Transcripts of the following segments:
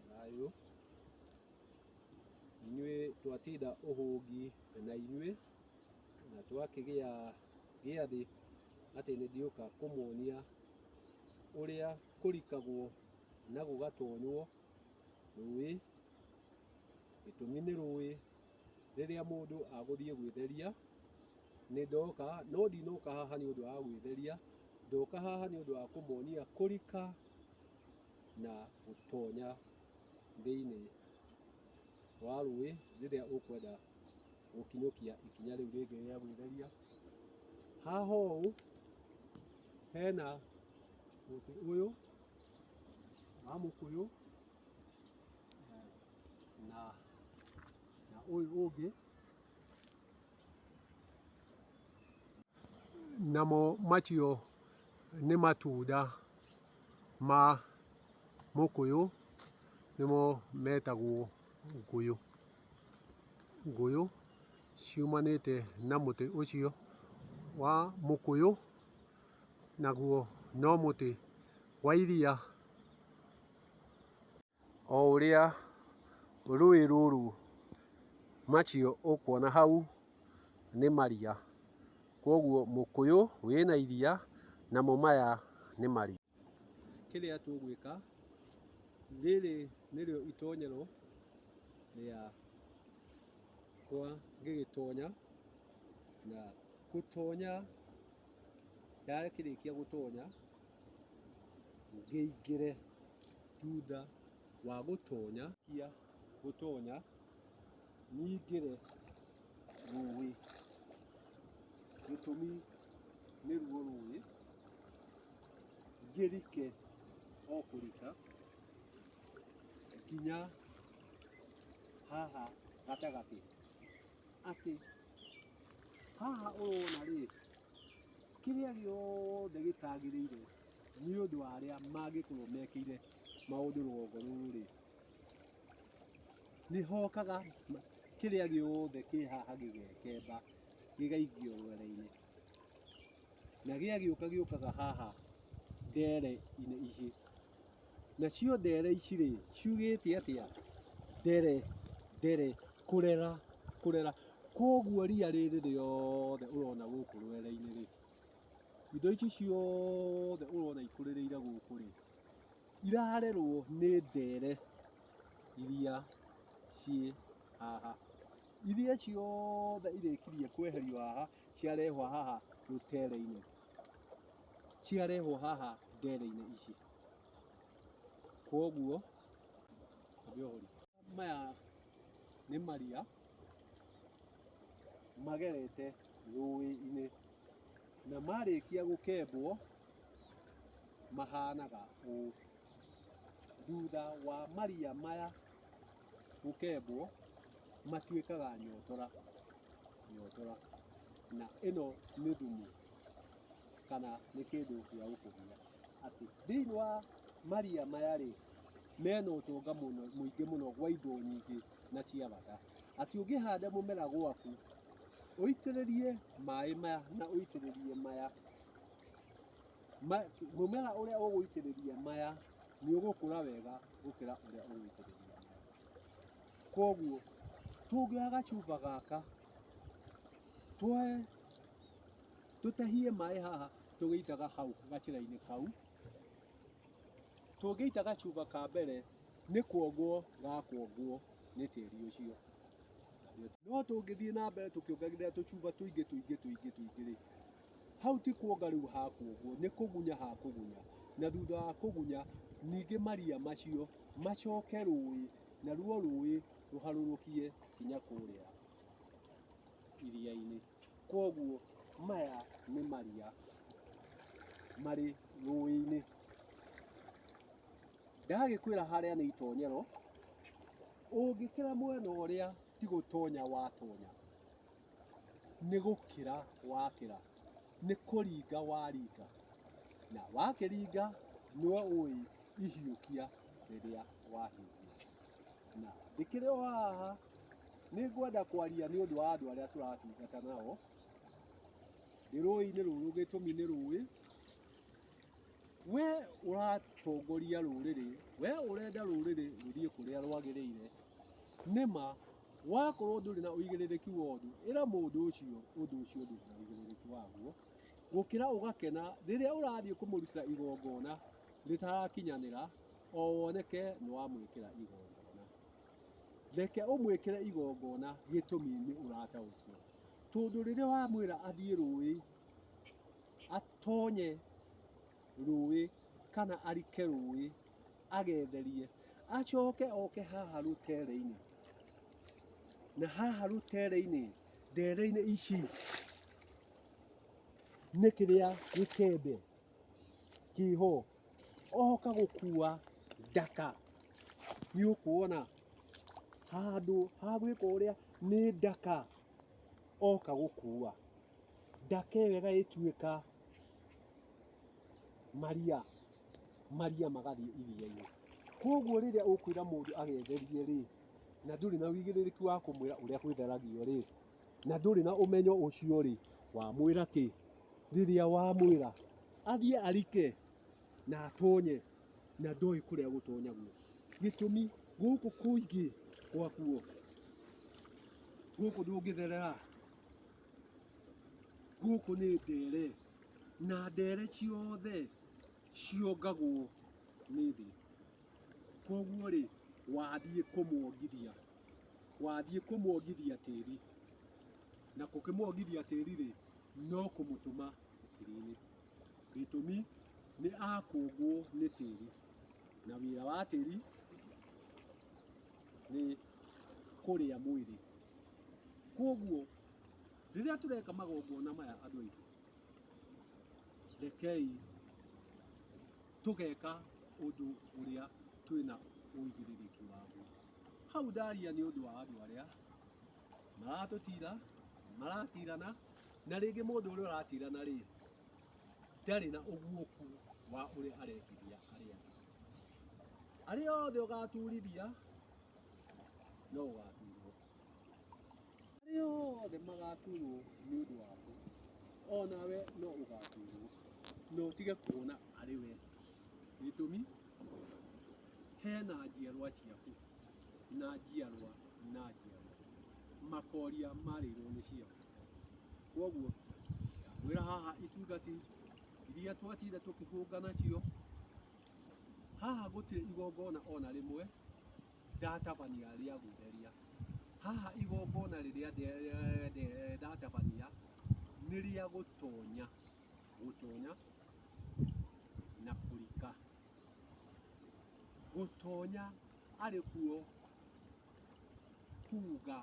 Thayũ. Inyuĩ twatinda ũhũngi na inyuĩ, na twakĩgĩa gĩathĩ atĩ nĩ ndiũka kũmuonia ũrĩa kũrikagwo na gũgatonywo rũĩ, gĩtũmi nĩ rũĩ rĩrĩa mũndũ agũthiĩ gwĩtheria, nĩ ndoka no ndinoka haha nĩ ũndũ wa gwĩtheria, ndoka haha nĩ ũndũ wa kũmuonia kũrika. na gũtonya thĩinĩ wa rũĩ rĩrĩa ũkwenda gũkinyũkia ikinya rĩu rĩngĩ rĩa gwĩtheria. Haha ũũ hena mũtĩ ũyũ wa mũkũyũ na na ũyũ ũngĩ namo macio nĩ matunda. ma mũkũyũ nĩmo metagwo ngũyũ. Ngũyũ ciumanĩte na mũtĩ ũcio wa mũkũyũ, naguo no mũtĩ wa iria. o ũrĩa rũĩ rũrũ macio ũkuona hau nĩ maria, kwoguo mũkũyũ wĩna iria namo maya nĩ maria. Kĩrĩa tũgwĩka, rĩrĩ nĩrĩo itonyero rĩakwa ngĩgĩtonya na gũtonya... ndakĩrĩkia gũtonya ngĩingĩre thutha wa gũtonya kia gũtonya nyingĩre rũĩ. Gĩtũmi nĩ ruo rũĩ ngĩrike o kũrika nginya haha gatagatĩ. atĩ haha ũrona rĩ, kĩrĩa gĩothe gĩtagĩrĩire nĩ ũndũ wa arĩa mangĩkorwo mekĩire maũndũ rũgongo rũrũ rĩ, nĩ hokaga kĩrĩa gĩothe kĩ haha gĩgekemba gĩgaikio rwere-inĩ. Na gĩagĩũka gĩũkaga haha ndere-inĩ ici. Nacio ndere ici rĩ, ciugĩte atĩa? Ndere, ndere, kũrera, kũrera. Kwoguo ria rĩrĩ rĩothe ũrona gũkũ rwere-inĩ rĩ, indo ici ciothe ũrona ikũrĩrĩire gũkũ rĩ, irarerwo nĩ ndere iria ciĩ haha. Iria ciothe irĩkirie kweherio haha, ciarehwo haha rũtere-inĩ. ciarehwo haha ndere-inĩ ici. Koguo maya nĩ maria magerete rũĩ-inĩ na marĩkia gũkembwo mahanaga ũũ. Thutha wa maria maya gũkembwo matuĩkaga nyotora nyotora na ĩno nĩ thumu kana nĩ kĩndũ gĩa gũkũgia atĩ thĩinĩ wa maria maya rĩ mena ũtonga mũno mũingĩ mũno gwa indo nyingĩ na cia bata atĩ ũngĩhanda mũmera gwaku ũitĩrĩrie maĩ maya na ũitĩrĩrie maya mũmera ũrĩa ũgũitĩrĩria maya nĩ ũgũkũra wega gũkĩra ũrĩa ũgũitĩrĩria maya. Koguo tũngĩoya gacuba gaka twoe tũtahie maĩ haha tũgĩitaga hau gacĩra-inĩ kau, tũngĩita gacuba ka mbere nĩ kuongwo gakuongwo nĩ tĩri ũcio. No tũngĩthiĩ na mbere tũkĩongagĩrĩra tũcuba tũingĩ tũingĩ tũingĩ rĩ. Hau ti kuonga rĩu hakuonguo, nĩ kũgunya hakũgunya, na thutha wa kũgunya ningĩ maria macio macoke rũĩ, naruo rũĩ rũharũrũkie kinya kũrĩa iria-inĩ. Koguo maya nĩ maria marĩ rũĩ-inĩ. Ndagĩkwĩra harĩa nĩ itonyero, ũngĩkĩra mwena ũrĩa ti gũtonya watonya. nĩ gũkĩra wakĩra, nĩ kũringa waringa, na wakĩringa nĩwe ũĩ ihiũkia rĩrĩa wahiũkia. Na ndĩkĩrĩ o haha nĩ ngwenda kwaria nĩ ũndũ wa andũ arĩa tũratungata nao, ndĩ rũĩ-inĩ rũrũ, gĩtũmi nĩ rũĩ. We ũratongoria rũrĩrĩ, we ũrenda rũrĩrĩ rũthiĩ kũrĩa rwagĩrĩire, nĩma wakorwo ndũrĩ na ũigĩrĩrĩki wa ũndũ, ĩra mũndũ ũcio ũndũ ũcio ndũrĩ na ũigĩrĩrĩki waguo, gũkĩra ũgakena rĩrĩa ũrathiĩ kũmũrutĩra igongona rĩtarakinyanĩra, o woneke nĩ wamwĩkĩra igongona. Reke ũmwĩkĩre igongona gĩtũmi nĩ ũrataũkwo. Tondũ rĩrĩa wamwĩra athiĩ rũĩ, atonye rũĩ kana arike rũĩ agetherie, acoke oke haha rũtere-inĩ, na haha rũtere-inĩ ndere-inĩ ici nĩ kĩrĩa gĩkembe kĩho, oka gũkua ndaka, nĩ ũkuona handũ ha gwĩka ũrĩa nĩ ndaka oka gũkua. Ndakegega ĩtuĩka maria, maria magathiĩ iria-inĩ. Koguo rĩrĩa ũkwĩra mũndũ agetherie rĩ, na ndũrĩ na ũigĩrĩrĩki wa kũmwĩra ũrĩa gwĩtheragio rĩ, na ndũrĩ na ũmenyo ũcio rĩ, wamwĩra kĩ? Rĩrĩa wamwĩra athiĩ arike na atonye na ndoĩ kũrĩa gũtonyagwo. Gĩtũmi gũkũ kũingĩ gwakuo, gũkũ ndũngĩtherera Gũkũ nĩ ndere, na ndere ciothe ciongagwo nĩ thĩ. Koguo rĩ, wathiĩ kũmwongithia, wathiĩ kũmwongithia tĩri, na gũkĩmwongithia tĩri rĩ, no kũmũtũma tĩri-inĩ. Gĩtũmi nĩ akũngwo nĩ tĩri, na wĩra wa tĩri nĩ... kũrĩa mwĩrĩ. Kwoguo rĩrĩa tũreka magongona maya andũ aitũ, rekei tũgeka ũndũ ũrĩa twĩna ũigĩrĩrĩki waguo. Hau ndaria nĩ ũndũ wa andũ arĩa maratũtira, maratirana, na rĩngĩ mũndũ ũrĩa ũratirana rĩ, ndarĩ na ũguũku wa ũrĩa arekithia arĩa angĩ. Arĩa othe ũgaturithia no ũgaturwo. Arĩa othe magaturwo nĩ ũndũ waku, o nawe no ũgaturwo, na ũtige kuona arĩ we. Gĩtũmi, hena njiarwa ciaku, na njiarwa na njiarwa, makoria marĩirwo nĩ cio. Koguo, ngwĩra haha itungati iria twatinda tũkĩhũnga nacio, Haha gũtirĩ igongona o na rĩmwe ndatabania rĩa gũtheria. Haha igongona rĩrĩa ndatabania nĩ rĩa gũtonya, gũtonya na kũrika. Gũtonya arĩ kuo kuuga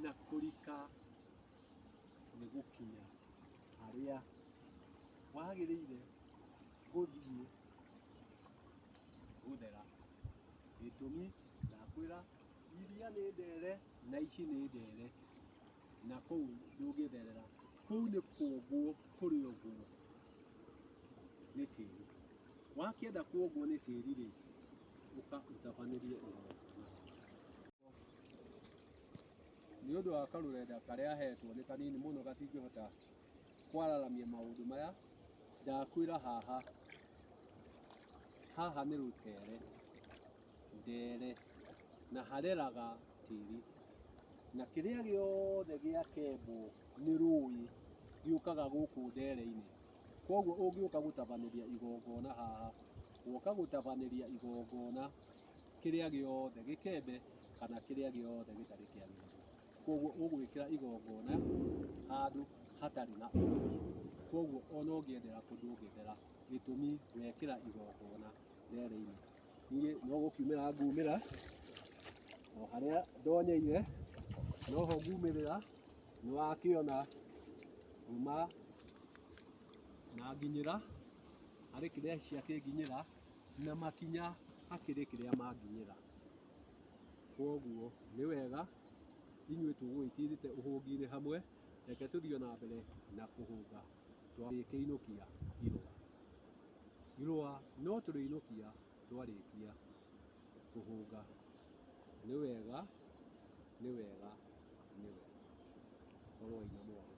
na kũrika. nĩ gũkinya harĩa wagĩrĩire gũthiĩ gũthera. Gĩtũmi ndakwĩra iria nĩ ndere na ici nĩ ndere na kũu ndũngĩtherera, kũu nĩ kũũngũ kũrĩ ũguo nĩ tĩri. Wakĩenda kũũngwo nĩ tĩri rĩ, ũka ũtabanĩrie ũgoka. nĩ ũndũ wa karũrenda karĩa hetwo nĩ kanini mũno gatingĩhota kwararamia maũndũ maya ndakwĩra haha haha nĩ rũtere ndere na hareraga tĩri na kĩrĩa gĩothe gĩa kembo nĩ rũĩ gĩũkaga gũkũ ndere-inĩ koguo ũngĩũka gũtabanĩria igongona haha woka gũtabanĩria igongona kĩrĩa gĩothe gĩkembe kana kĩrĩa gĩothe gĩtarĩ kĩagĩrĩru. Koguo ũgwĩkĩra igongona handũ hatarĩ na ũguni. Koguo ona ũngĩethera kũ ndũngĩthera gĩtũmi wekĩra igongona rĩarĩ-inĩ. Niĩ no gũkiumĩra ngumĩra o harĩa ndonyeire no ho ngumĩrĩra, nĩ wakĩona kuma na nginyĩra harĩ kĩrĩa ciakĩnginyĩra. na makinya hakĩrĩ kĩrĩa manginyĩra. Kwoguo nĩ wega inyuĩ tũgũgĩkĩrĩte ũhũngi-inĩ hamwe, reke tũthiĩ o na mbere na kũhũnga tũgĩkĩinũkia irũa. Irũa no tũrĩinũkia twarĩkia kũhũnga. Nĩ wega, nĩ wega, nĩ wega. Korwoi na mwaki.